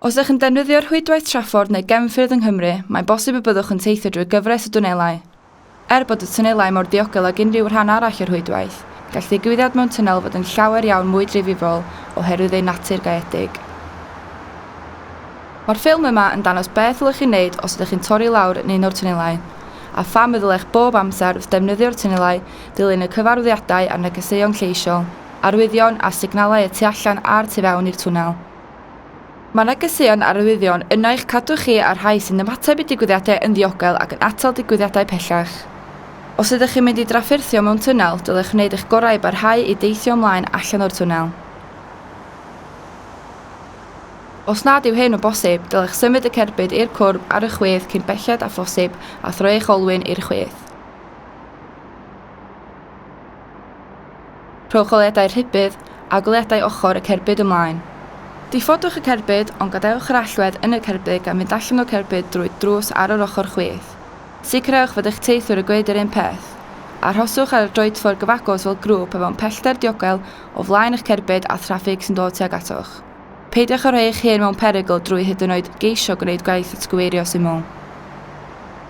Os ydych yn defnyddio rhwydwaith traffordd neu gefnffyrdd yng Nghymru, mae'n bosib y byddwch yn teithio drwy gyfres o dwnelau. Er bod y twnelau mor ddiogel ag unrhyw rhan arall o'r rhwydwaith, gall ddigwyddiad mewn twnnel fod yn llawer iawn mwy difrifol oherwydd ei natur gaeedig. Mae'r ffilm yma yn dangos beth ddylech ei wneud os ydych chi'n torri lawr yn un o'r twnelau, a pham y ddylech bob amser wrth ddefnyddio'r twnelau Dilyn y cyfarwyddiadau a'r negeseuon lleisiol, arwyddion a signalau y tu allan a'r tu fewn i'r twnnel. Mae negeseuon a arwyddion yna i'ch cadw chi a'r rhai sy'n ymateb i digwyddiadau yn ddiogel ac yn atal digwyddiadau pellach. Os ydych chi'n mynd i drafferthio mewn twnnel, dylech wneud eich gorau i barhau i deithio ymlaen allan o'r twnnel. Os nad yw hyn o bosib, dylech symud y cerbyd i'r cwrb ar y chwith cyn belled â phosib a throi eich olwyn i'r chwith. Rhowch goleuadau rhybudd a goleuadau ochr y cerbyd ymlaen. Diffodwch y cerbyd ond gadewch yr allwedd yn y cerbyd gan fynd allan o'r cerbyd drwy drws ar yr ochr chwith. Sicrhewch fod eich teithwyr yn gwneud yr un peth. Arhoswch ar y droedffordd gyfagos fel grŵp a mewn pellter diogel o flaen eich cerbyd a thraffig sy'n dod tuag atoch. Peidiwch â rhoi eich hun mewn perygl drwy hyd yn oed geisio gwneud gwaith atgyweirio syml.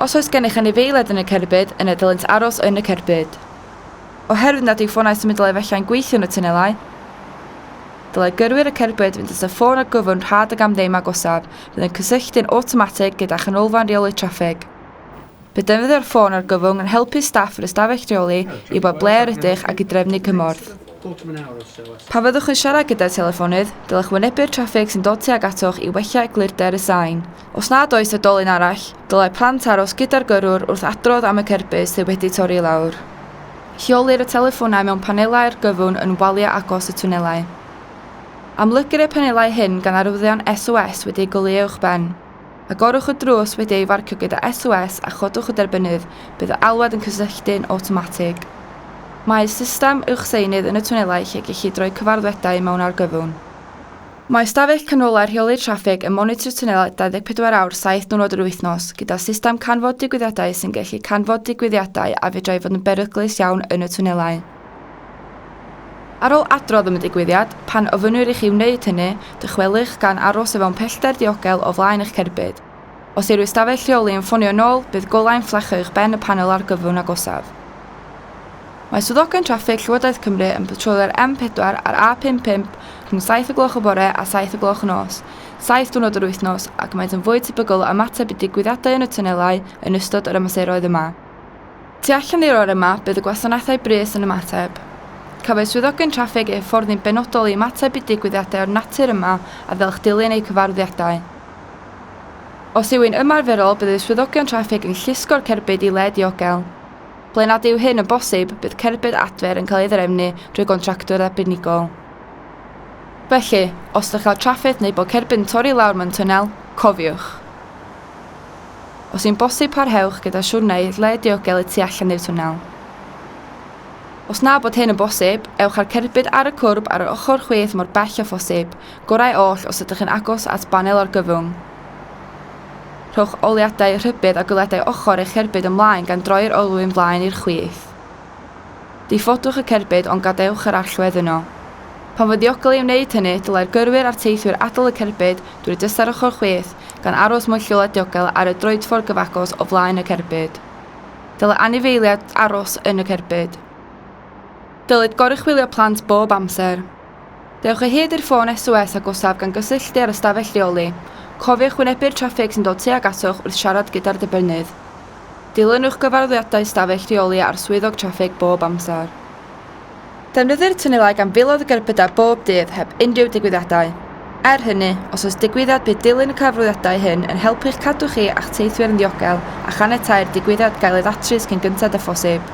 Os oes gennych anifeiliaid yn y cerbyd, yna dylent aros yn y cerbyd. Oherwydd nad yw ffonau symudol efallai'n gweithio yn y tunelau, dylai gyrwyr y cerbyd fynd at y ffôn a gyfwrdd rhad ag am ddim agosaf fydd yn cysylltu'n awtomatig gyda chanolfan reoli traffig. Bydd defnyddio'r ffôn argyfwng yn helpu staff yr ystafell reoli i wybod ble yr ydych ac i drefnu cymorth. Pan fyddwch yn siarad gyda'r teleffonydd, dylech wynebu'r traffig sy'n dod tuag atoch i wella eglurder y sain. Os nad oes oedolyn arall, dylai plant aros gyda'r gyrrwr wrth adrodd am y cerbyd sydd wedi torri i lawr. Lleolir y teleffonau mewn panelau argyfwng yn waliau agos y twnelau. Amlygir y panelau hyn gan arwyddion SOS wedi'u goleuo uwchben. Agorwch y drws wedi ei farcio gyda SOS a chodwch y derbynnydd, bydd y alwad yn cysylltu'n awtomatig. Mae system uwchseinydd yn y twnelau lle gellid rhoi cyfarddwedau mewn argyfwng. Mae ystafell canolau'r rheolydd traffig yn monitro'r twnelau 24 awr 7 diwrnod yr wythnos, gyda system canfod digwyddiadau sy'n gallu canfod digwyddiadau a fedrai fod yn beryglus iawn yn y twnelau. Ar ôl adrodd am y digwyddiad, pan ofynnir i chi wneud hynny, dychwelwch gan aros o fewn pellter diogel o flaen eich cerbyd. Os yw'r ystafell rheoli yn ffonio yn ôl, bydd golau yn fflachio uwch ben y panel argyfwng agosaf. Mae swyddogion traffig Llywodraeth Cymru yn patrolio'r M4 a'r A55 rhwng saith o gloch y bore a saith o gloch y nos, saith diwrnod yr wythnos, ac maent yn fwy tebygol o ymateb i ddigwyddiadau yn y twnelau yn ystod yr amseroedd yma. Tu allan i'r orau yma, bydd y gwasanaethau brys yn ymateb. Cafwyd swyddogion traffig eu hyfforddi'n benodol i ymateb i digwyddiadau o'r natur yma a fel eich dilyn eu cyfarwyddiadau. Os yw'n ymarferol, bydd y swyddogion traffig yn llusgo'r cerbyd i le diogel. Ble nad yw hyn yn bosib, bydd cerbyd adfer yn cael ei ddraefnu drwy gontractwr arbenigol. Felly, os ydych ar draffig neu bod cerbyd yn torri i lawr mewn twnnel, cofiwch! Os yw'n bosib parhewch gyda siwrneu lle diogel y tu allan i'r twnnel. Os na bod hyn yn bosib, ewch â'r cerbyd ar y cwrb ar yr ochr chwith mor bell â phosib, gorau oll os ydych yn agos at banel argyfwng. Rhowch oliadau rhybudd a gwiledau ochr eich cerbyd ymlaen gan droi'r olwyn flaen i'r chwith. Diffodwch y cerbyd ond gadewch yr allwedd yno. Pan fo'n ddiogel ei wneud hynny, dylai'r gyrwyr a'r teithwyr adael y cerbyd drwy drysau'r ochr chwith, gan aros mewn lleoliad diogel ar y droedffordd gyfagos o flaen y cerbyd. Dylai anifeiliaid aros yn y cerbyd. Dylid goruchwylio plant bob amser. Dewch o hyd i'r ffôn SOS agosaf gan gysylltu â'r ystafell rheoli. Cofiwch wynebu'r traffig sy'n dod tuag atoch wrth siarad gyda'r dibynnydd. Dilynwch gyfarwyddiadau ystafell rheoli a'r swyddog traffig bob amser. Defnyddir tunelau gan filoedd o gerbydau bob dydd heb unrhyw digwyddiadau. Er hynny, os oes digwyddiad bydd dilyn y cyfarwyddiadau hyn yn helpu i'ch cadw chi a'ch teithwyr yn ddiogel a chaniatáu'r digwyddiad gael ei ddatrys cyn gynted â phosib.